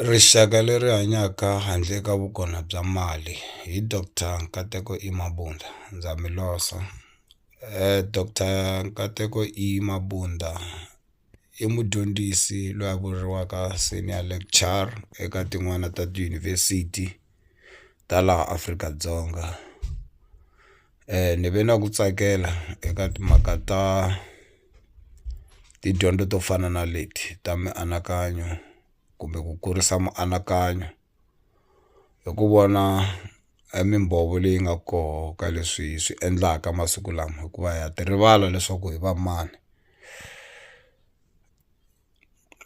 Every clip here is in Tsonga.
Rixaka leri hanyaka handle ka vukona bya mali hi doctor Nkateko E Mabunda ndza mi losa doctor Nkateko E Mabunda i mudyondzisi loyi a vuriwaka senior lecture eka tin'wani ta tiyunivhesiti ta laha Afrika-Dzonga. ni ve na ku tsakela eka timhaka ta tidyondzo to fana na leti ta mianakanyo kumbe ku kurisa mianakanyo hi ku vona mimbhovo leyi nga koho ka leswi hi swi endlaka masiku lama hikuva ha ti rivala leswaku hi va mani.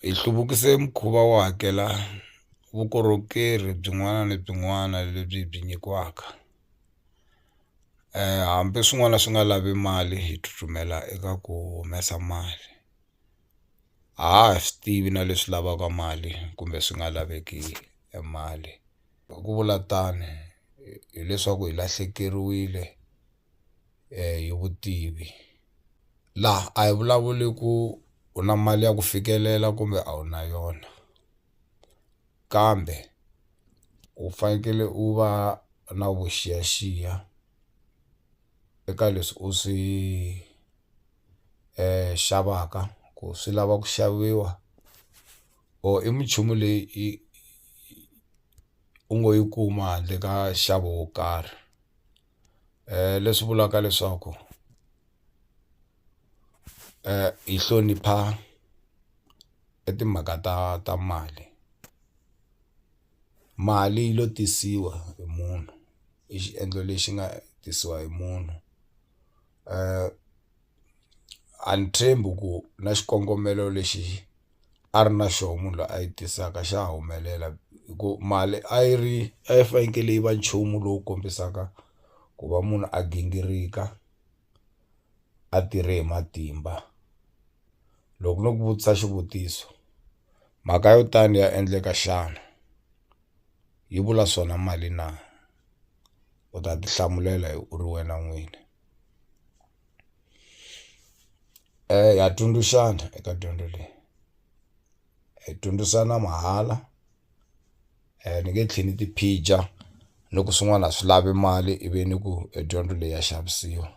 hi hluvukise mukhuva wo hakela vukorhokeri byin'wana ni byin'wana lebyi hi byi nyikiwaka hambi swin'wana swi nga lavi mali hi tsutsumela eka ku humesa mali a ha ha swi tivi na leswi lavaka mali kumbe swi nga laveki e mali hi ku vula tano hileswaku hi lahlekeriwile. hi vutivi laha a hi vulavuli ku u na mali ya ku fikelela kumbe a wu na yona kambe u fanekele u va na vuxiyaxiya eka leswi u swi xavaka ku swi lava ku xaviwa or i minchumu leyi i u ngo yi kuma handle ka nxavo wo karhi. leswi vulaka leswaku hi hlonipha i timhaka ta ta mali mali yi lo tisiwa hi munhu i xiendlo lexi nga tisiwa hi munhu . a ni tshembi ku na xikongomelo lexi a ri na xoho munhu loyi a yi tisaka xa ha humelela hi ku mali a yi ri a yi fanekele yi va nchumu lowu kombisaka ku va munhu a gingirika a tirhe hi matimba loko no ku vutisa xivutiso mhaka yo tani ya endleka xana yi vula swona mali na. u ta ti hlamulela hi u ri wena n'wini ha tsundzuxana eka dyondzo leyi hi dyondzisana mahala ni nge tlheli ni ti phija loko swin'wana a swi lavi mali i vi ni ku e dyondzo leyi ya xavisiwa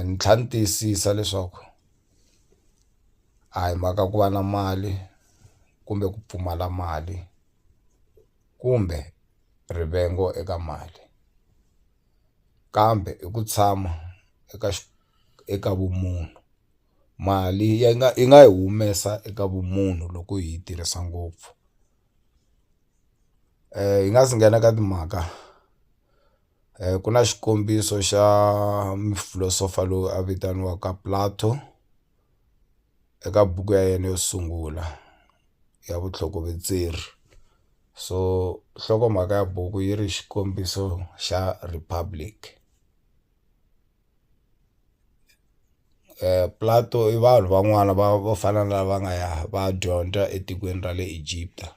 ni tlhela ni tiyisisa leswaku a hi mhaka ku va na mali kumbe ku pfumala mali. kumbe rivengo eka mali kambe i ku tshama eka eka vumunhu mali yi nga yi nga yi humesa eka vumunhu loko hi yi tirhisa ngopfu hi nga si nghena ka timhaka ku na xikombiso xa mufilosofa loyi a vitaniwaka Plato. eka buku ya yena yo sungula ya vutlhokovetseri so nhlokomhaka ya buku yi ri xikombiso xa Republic Plato i vanhu van'wana va vo fana na lava nga ya va ya dyondza etikweni ra le Egipta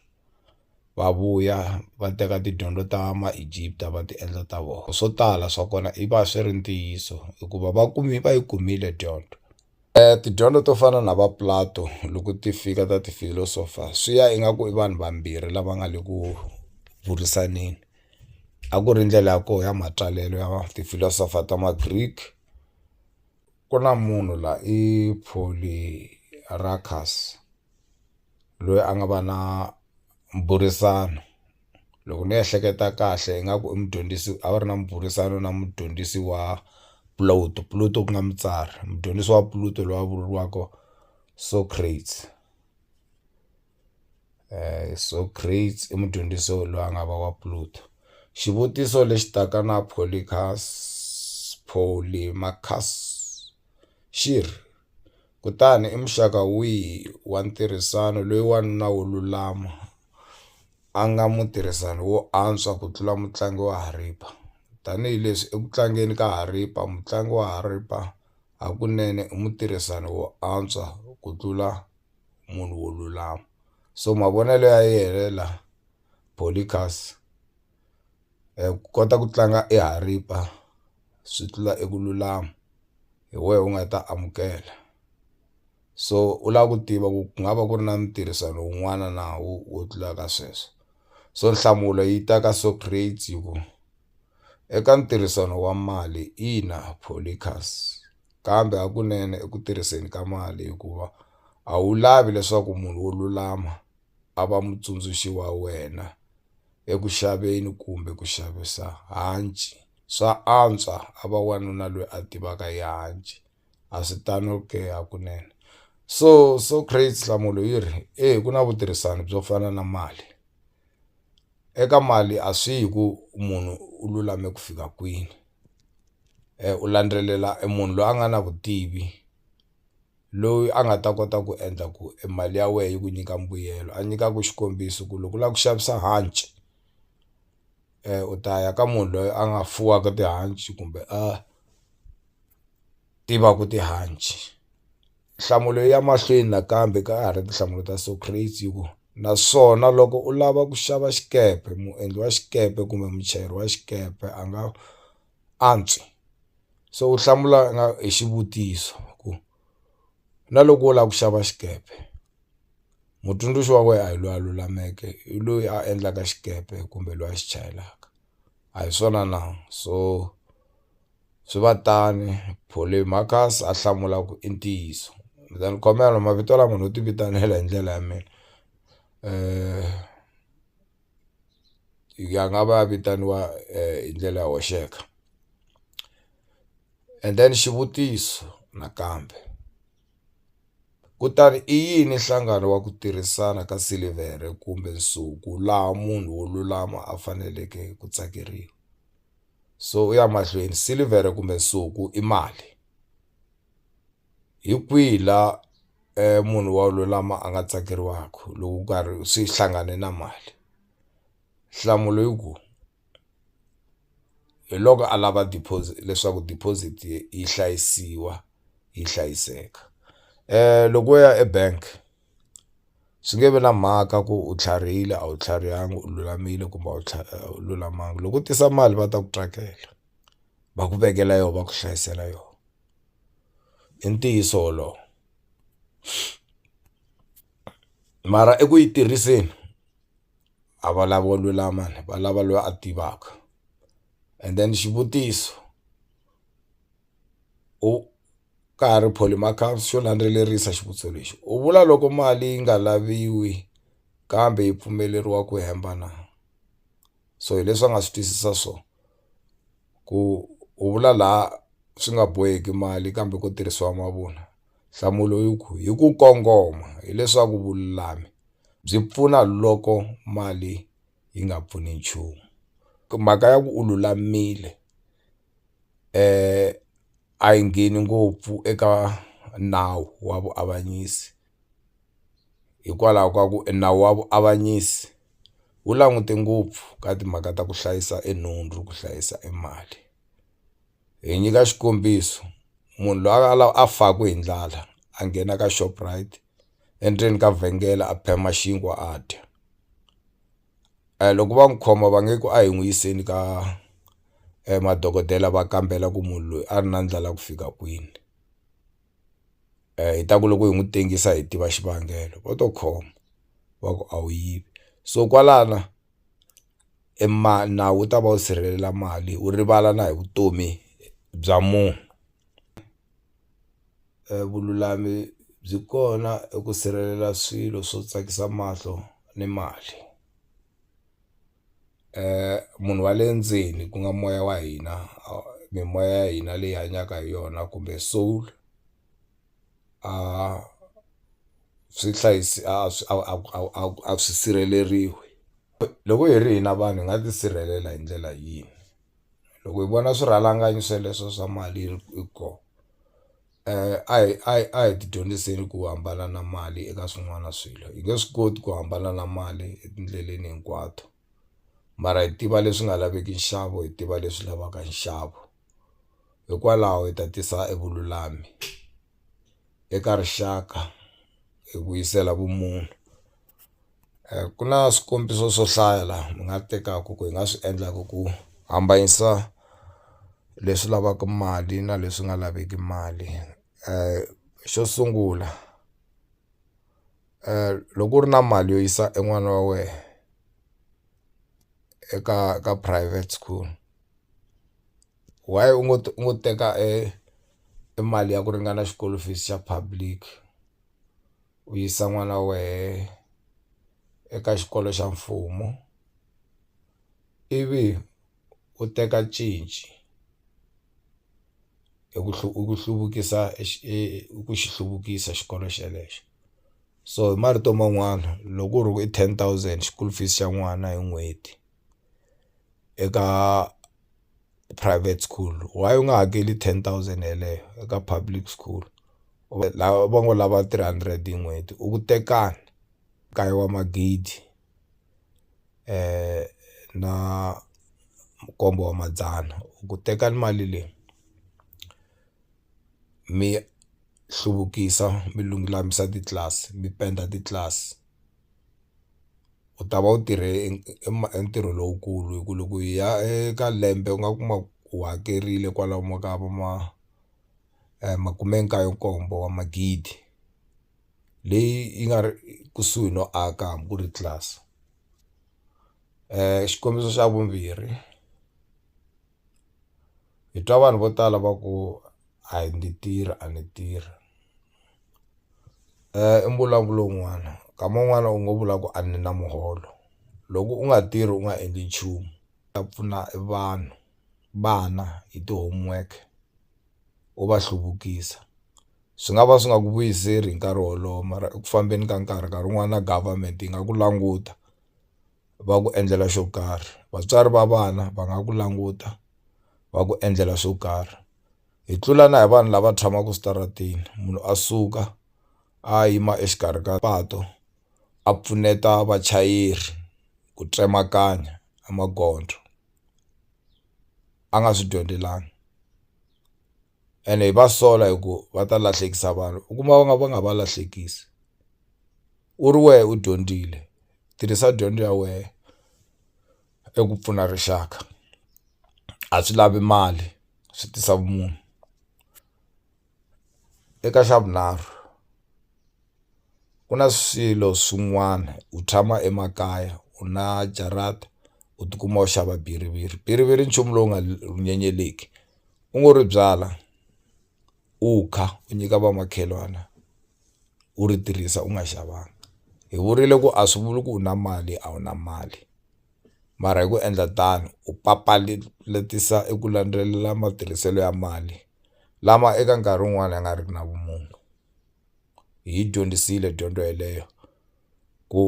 va vuya va teka tidyondzo ta ma Egypt va ti endla ta vona swo tala swa kona i va swi ri ntiyiso hikuva va kumi va yi kumile dyondzo. Tidyondzo to fana na va Plato loko ti fika ta ti philosopher swi ya ingaku i vanhu vambirhi lava nga le ku burisaneni a ku ri ndlela ya kona ya matsalelo ya ti philosopher ta ma Greek ku na munhu la i Polyarchus loyi a nga va na mbhurisano loko ni ehleketa kahle ingaku i mudyondzisi a va ri na mbhurisano na mudyondzisi wa Plato Plato ku nga mutsari mudyondzisi wa Plato loyi a vuriwaka Socrates Socrates i mudyondzisi loyi a nga va wa Plato xivutiso lexi taka na Polycarp Polymarcus xi ri. Kutani i muxaka wihi wa ntirhisano loyi wanuna wo lulama a nga mutirhisani wo antswa ku tlula mutlangi wa haripa? Tanihi leswi eku tlangeni ka haripa mutlangi wa haripa hakunene i mutirhisani wo antswa ku tlula munhu wo lulama so mavonelo ya yena la Polycus. ku kota ku tlanga i haripa swi tlula eku lulama hi wena u nga ta amukela so u lava ku tiva ku ku nga va ku ri na ntirhisano wun'wana na wo wo tlula ka sweswo so nhlamulo yi ta ka Socrates hi ku eka ntirhisano wa mali ina Polycus kambe hakunene eku tirhiseni ka mali hikuva a wu lavi leswaku munhu wo lulama. a va mutsundzuxi wa wena eku xaveni kumbe ku xavisa hanci. Swa antswa a va wanuna loyi a tivaka hi hanci. A swi tano ke hakunene? So Socrates nhlamulo yi ri, eya ku na vutirhisani byo fana na mali. Eka mali a swi yi hi ku munhu u lulame ku fika kwini u landzelela e munhu loyi a nga na vutivi. loyi a nga ta kota ku endla ku e mali ya wena yi ku nyika mbuyelo a nyikaku xikombiso ku loko u lava ku xavisa hanci u ta ya ka munhu loyi a nga fuwaka tihanci kumbe a tivaka tihanci nhlamulo ya mahlweni nakambe ka ha ri tinhlamulo ta Socrates yi ku naswona loko u lava ku xava xikepe muendli wa xikepe kumbe muchayeri wa xikepe a nga. antswi se u hlamula nga hi xivutiso ku na loko wo lava ku xava xikepe mutsundzuxi wa wena a hi loyi a lulameke hi loyi a endlaka xikepe kumbe loyi a xi chayelaka a hi swona na so swi va tani Polymarcus a hlamula ku i ntiyiso then khomela mavito lama no ti vitanela hi ndlela ya mina . ya nga va ya vitaniwa hi ndlela yo hoxeka and then xivutiso nakambe kutani i yini nhlangano wa ku tirhisana ka silivhere kumbe nsuku laha munhu wo lulama a faneleke ku tsakeriwa so u ya mahlweni silivhere kumbe nsuku i mali. hi kwihi la munhu wa lulama a nga tsakeriwaka loko ku karhi swi hlangane na mali nhlamulo i ku hi loko a lava deposit leswaku deposit yi hlayisiwa yi hlayiseka loko wo ya ebank swi nge vi na mhaka ku u tlharihile a wu tlharihanga u lulamile kumbe a wu a wu lulamanga loko u tisa mali va ta ku track-ela va ku vekela yona va ku hlayisela yona. I ntiyiso wolowo mara eku yi tirhiseni a va lavo lulama ni va lava loyi a tivaka and then xivutiso u ka ha ri Polymark xo landzelerisa xivutiso lexi u vula loko mali yi nga laviwi kambe yi pfumeleriwa ku hemba na so hi leswi a nga swi twisisa swona. ku u vula laha swi nga boheki mali kambe ko tirhisiwa mavunwa nhlamulo i ku hi ku kongoma hileswaku vululami byi pfuna loko mali yi nga pfuni nchumu mhaka ya ku u lulamile a yi ngheni ngopfu eka nawu wa vuavanyisi. hikwalaho ka ku e nawu wa vuavanyisi wu langute ngopfu ka timhaka ta ku hlayisa e nhundzu ku hlayisa e mali hi nyika xikombiso munhu loyi a la a faka hi ndlala a nghena ka Shoprite endzeni ka vhengele a phema xinkwa a dya a hi loko va n'wi khoma va nge ku a hi n'wi yiseni ka madokodela va kambela ku munhu loyi a ri na ndlala ku fika kwini. hi ta ku loko hi n'wi tengisa hi tiva xivangelo vo to khoma va ku a wu yivi so kwalano e nawu wu ta va wu sirhelela mali wu rivala na hi vutomi bya munhu vululami byi kona eku sirhelela swilo swo tsakisa mahlo ni mali. munhu wa le ndzeni ku nga moya wa hina mimoya ya hina leyi hanyaka hi yona kumbe soul swi hlayisi a swi a a a a a swi sirheleriwi loko hi ri hina vanhu hi nga tisirhelela hi ndlela yini loko hi vona swirhalanganyi sweleswo swa mali hi ri hi koho. a hi a hi a hi tidyondziseni ku hambana na mali eka swin'wana swilo hi nge swi koti ku hambana na mali etindleleni hinkwato mara hi tiva leswi nga laveki nxavo hi tiva leswi lavaka nxavo hikwalaho hi ta tisa evululami eka rixaka hi vuyisela vumunhu. ku na swikombiso swo hlaya laha ni nga tekaka ku hi nga swi endlaka ku hambanyisa leswi lavaka mali na leswi nga laveki mali xo sungula loko u ri na mali yo yisa e n'wana wa wena eka ka private school why u ngo u ngo teka e mali ya ku ringana xikolo fees xa public. u yisa n'wana wa wehe eka xikolo xa mfumo ivi u teka cinci hi ku hi ku hluvukisa e hi ku xi hluvukisa xikolo xelexo so hi marito man'wana loko ku ri hi ten thousand school fees xa n'wana hi n'hweti. eka private school why u nga hakeli ten thousand yeleyo eka public school lava va ngo lava three hundred hi n'hweti u ku tekani nkaye wa magidi na nkombo wa madzana u ku tekani mali leyi mi hluvukisa mi lulamisa titlilasi mi penda titlilasi. u ta va u tirhe e ntirho lowukulu hi ku loko hi ya eka lembe u nga kuma u hakerile kwalomu ka vo ma makume nkaye nkombo wa magidi leyi yi nga ri kusuhi no aka hambi ku ri tlilasi xikombiso xa vumbirhi. hi twa vanhu vo tala va ku a ndzi tirhi a ndzi tirhi i mbulavulo wun'wana nkama wun'wani u ngo vula ku a ni na muholo loko u nga tirhi u nga endli nchumu ta pfuna vanhu vana hi ti-homework u va hluvukisa swi nga va swi nga ku vuyiseli hi nkarhi wolowo mara eku fambeni ka nkarhi nkarhi wun'wani na government yi nga ku languta. va ku endlela xo karhi vatswari va vana va nga ku languta va ku endlela swo karhi hi tlula na hi vanhu lava tshamaka switarateni munhu a suka a yima exikarhi ka patu a pfuneta vachayeri ku tsemakanya a magondzo a nga swi dyondzelanga. ene hi va sola hi ku va ta lahlekisa vanhu u kuma va nga va nga va lahlekisi u ri wehe u dyondzile tirhisa dyondzo ya wehe eku pfuna rixaka a swi lavi mali swi tisa vumunhu eka xa vunharhu ku na swilo swin'wana u tshama emakaya u na jarata u tikuma u xava bhiriviri bhiriviri i nchumu lowu nga nyenyeleki. u ngo ri byala u kha u nyika vamakhelwana u ri tirhisa u nga xavanga hi vurile ku a swi vuli ku u na mali a wu na mali mara hi ku endla tano u papalatisisa eku landzelela matirhiselo ya mali lama eka nkarhi wun'wani ya nga ri ki na vumunhu hi yi dyondzisile dyondzo yeleyo ku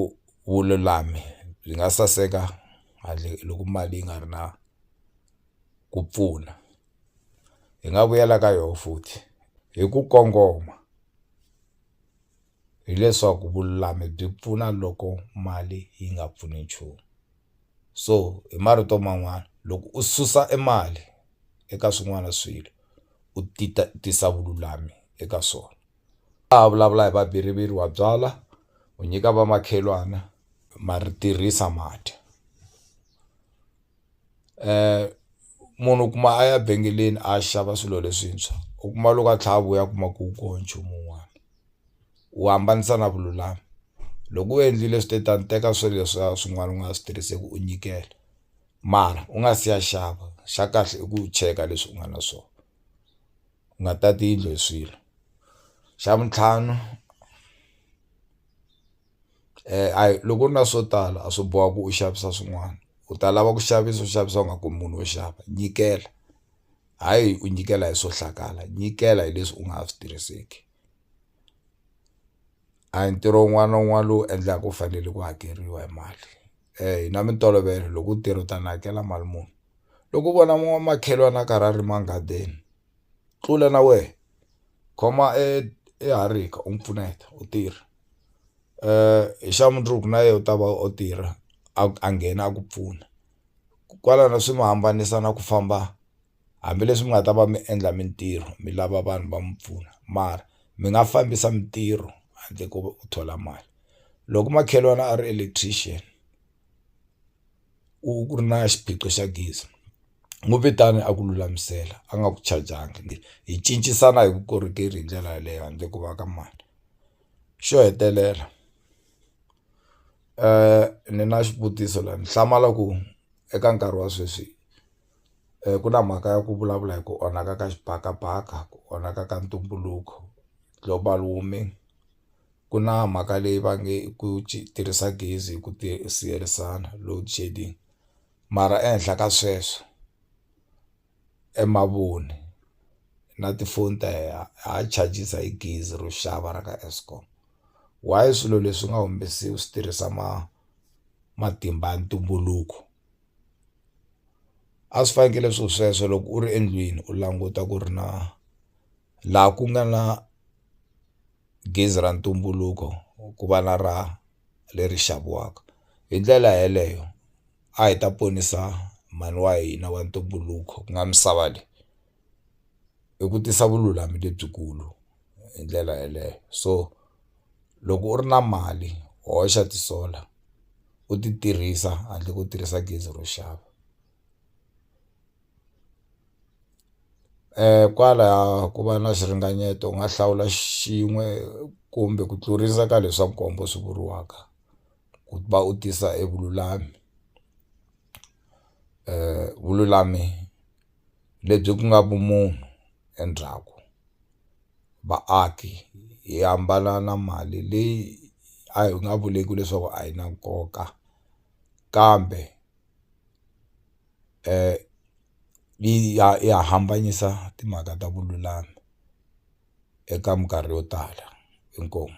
vululami byi nga saseka handle loko mali yi nga ri na. ku pfuna hi nga vuyela ka yoho futhi hi ku kongoma hileswaku vululami byi pfuna loko mali yi nga pfuni nchumu so hi marito man'wani loko u susa e mali eka swin'wana swilo u ti ta tisa vululami eka swona a ha vulavula hi vaviriviri wa byalwa u nyika vamakhelwana ma ri tirhisa ma dya. munhu u kuma a ya vhengeleni a ya xava swilo leswintshwa u kuma loko a tlha a vuya a kuma ku ko nchumu wun'wana u hambanisa na vululami loko u endlile swi te tano teka swilo leswiya swin'wana u nga swi tirhiseki u nyikela mara u nga si ya xava xa kahle i ku cheka leswi u nga na swona u nga tati yindlu hi swilo xa vutlhanu. a hi loko u ri na swo tala a swi bohi ku u xavisa swin'wana u ta lava ku xavisa u xavisa u nga kumi munhu wo xava nyikela hayi u nyikela hi swo hlakala nyikela hi leswi u nga ha swi tirhiseki a hi ntirho wun'wana na wun'wana lowu endlaka u fanele ku hakeriwa hi mali hi na mintolovelo loko u tirha u ta ni hakela mali muni loko u vona makhelwani a karhi a rima nghadini. Tlula na wehe khoma e e harika u n'wi pfuneta u tirha hi xa mundzuku na yena u ta va o tirha a a nghena a ku pfuna kwalano swi mi hambanisa na ku famba hambileswi mi nga ta va mi endla mintirho mi lava vanhu va mi pfuna mara mi nga fambisa mintirho handle ko u thola mali loko makhelwani a ri electrician. ku ku ri na xiphiqo xa gezi n'wi vitana a ku lulamisela a nga ku chajanga hi cincisana hi vukorhokeri hi ndlela yaleyo handle ko va ka mali xo hetelela ni na xivutiso la ni hlamala ku eka nkarhi wa sweswi. ku na mhaka ya ku vulavula hi ku onhaka ka xibakabaka ku onhaka ka ntumbuluko global warming ku na mhaka leyi va nge ku tirhisa gezi hi ku siyerisana load shedding mara ehenhla ka sweswo e mavoni na tifoni ta heha ha charges hi gezi ro xava ra ka Eskom why swilo leswi nga swi tirhisa ma matimba ya ntumbuluko. a swi fanekele swi ri sweswo loko u ri endlwini u languta ku ri na laha ku nga na gezi ra ntumbuluko ku va na ra leri xaviwaka hi ndlela yeleyo a hi ta ponisa mhani wa hina wa ntumbuluko ku nga misava leyi. i ku tisa vululami lebyikulu hi ndlela yeleyo so loko u ri na mali hoxa ti-solar u ti tirhisa handle ko tirhisa gezi ro xava kwala ku va na xiringanyeto u nga hlawula xin'we kumbe ku tlurisa ka leswa nkombo swi vuriwaka ku va u tisa evululami vululami. lebyi ku nga vumunhu endzhaku vaaki hi hambana na mali leyi a hi nga vuleki leswaku a yi na nkoka kambe yi ya yi ya hambanyisa timhaka ta vululami eka minkarhi yo tala inkomu.